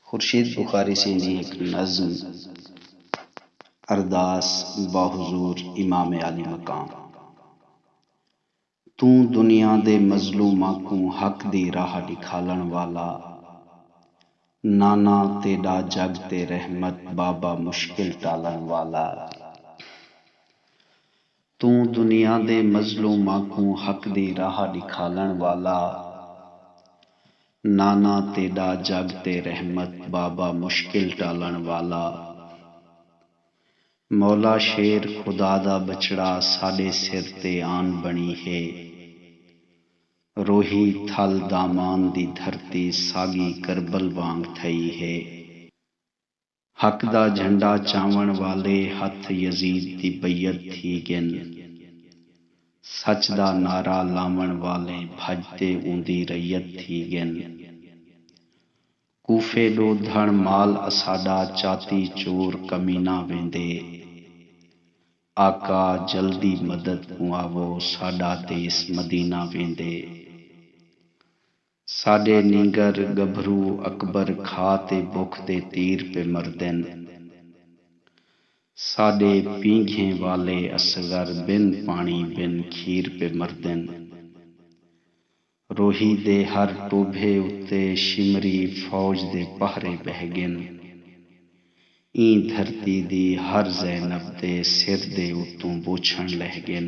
خورشید بخاری سیں دی ہک نظم ارداس با حضور امام عالی مقام۔ توں دنیا دے مظلوماں کوں حق دی راہ ڈکھالن والا نانا تیڈا جگ تے رحمت بابا مشکل ٹالن والا۔ توں دنیا دے مظلوماں کوں حق دی راہ ݙکھالݨ والا نانا تیݙا جڳ تے رحمت بابا مشکل ٹالݨ والا مولا شیر خدا دا ٻچڑا ساݙے سر تے آن بݨی ہے روہی تھل دامان دی دھرتی ساڳی کربل وانگ تھئی ہے۔ حق دا جھنڈا چاون والے ہتھ یزید دی بیعت تھی گن۔ سچ دا نعرہ لاون والے بھج تے اوندی رعیت تھی گن۔ کوفے ڈو دھن مال اساڈا چاتی چور کمینہ ویندے۔ آقا جلدی مدد کوں آوو ساڈا دیس مدینہ ویندے۔ ساݙے نینگر ڳبھرو اکبر کھا تے بکھ دے تیر پے مردن۔ ساݙے پینگھیں والے اصغر بن پاݨی بن کھیر پے مردن۔ روہی دے ہر ٹوبھے اتے شمری فوج دے پہرے ٻہہ ڳن۔ ایں دھرتی دی ہر زینب دے سر دے اتوں بوچھݨ لہہ ڳن۔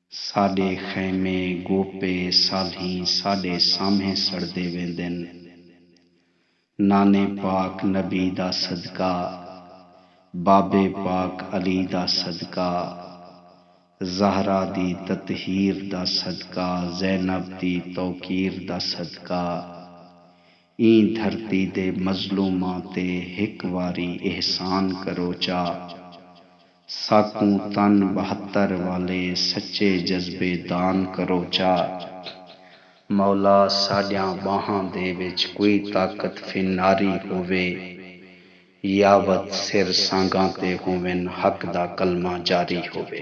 ساݙے خیمے، گوپے، صالحیں ساݙے سامھیں سڑدے ویندن۔ نانے پاک نبی دا صدقہ، بابے پاک علی دا صدقہ، زہرا دی تطہیر دا صدقہ، زینب دی توقیر دا صدقہ، ایں دھرتی دے مظلوماں تے ہک واری احسان کرو چا ساکوں تن بہتر والے سچے جذبے دان کرو چا مولا ساڈیاں باہاں دے وچ کوئی طاقت فناری ہووے یاوت سر سانگاں تے ہوون حق دا کلمہ جاری ہووے۔